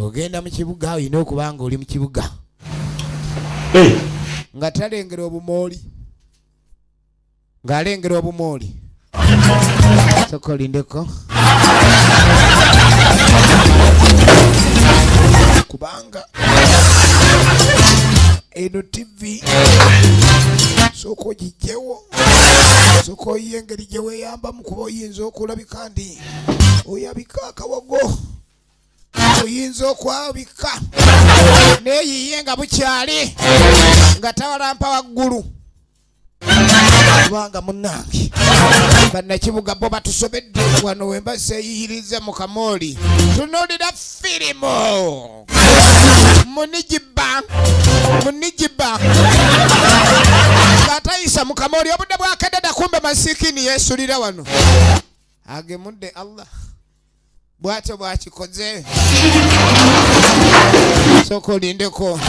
ogenda mu kibuga olina okuba nga oli mu kibuga eh. nga talengera obumooli ng'alengera obumooli soka olindeko kubanga eno tivi soka ogijjewo soka oyiye engeri gye weeyambamu kuba oyinza okulabika ndi oyabika akawago oyinza okwabika neyiye nga bukyali nga tawalampa waggulu kubanga munange bannakibuga bo batusobedde wano wemba seyiyiriza mu kamooli tunulira firimu munigiba munigiba atayisa mu kamooli obudde bwakededa kumbe masikini yesulira wano agemudde allah bwatyo bwakikoze soka olindeko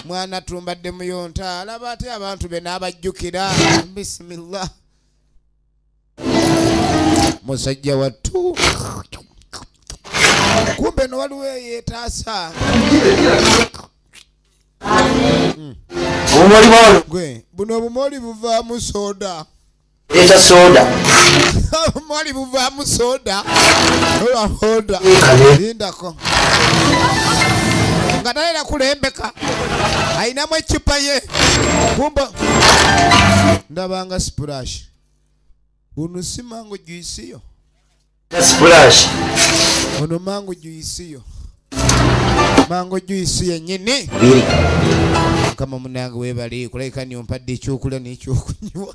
mwana tumbadde muyonta alaba ate abantu be n'abajjukira bisimillah musajja wattu kumbe no waliwo eyetaasa hmm. gwe buno obumoli buvaamu soda Eta soda. Mwali buva mu soda. Ola soda. Linda ko. Ngana ila kulembeka. Aina mwe chupa ye. Kumbo. Ndabanga splash. Unusima ngo juisi yo. ono mangu juyisiyo mangu juyisi yenyini mukama munange webali kulabika niompadde ekyokulya nekyokunywa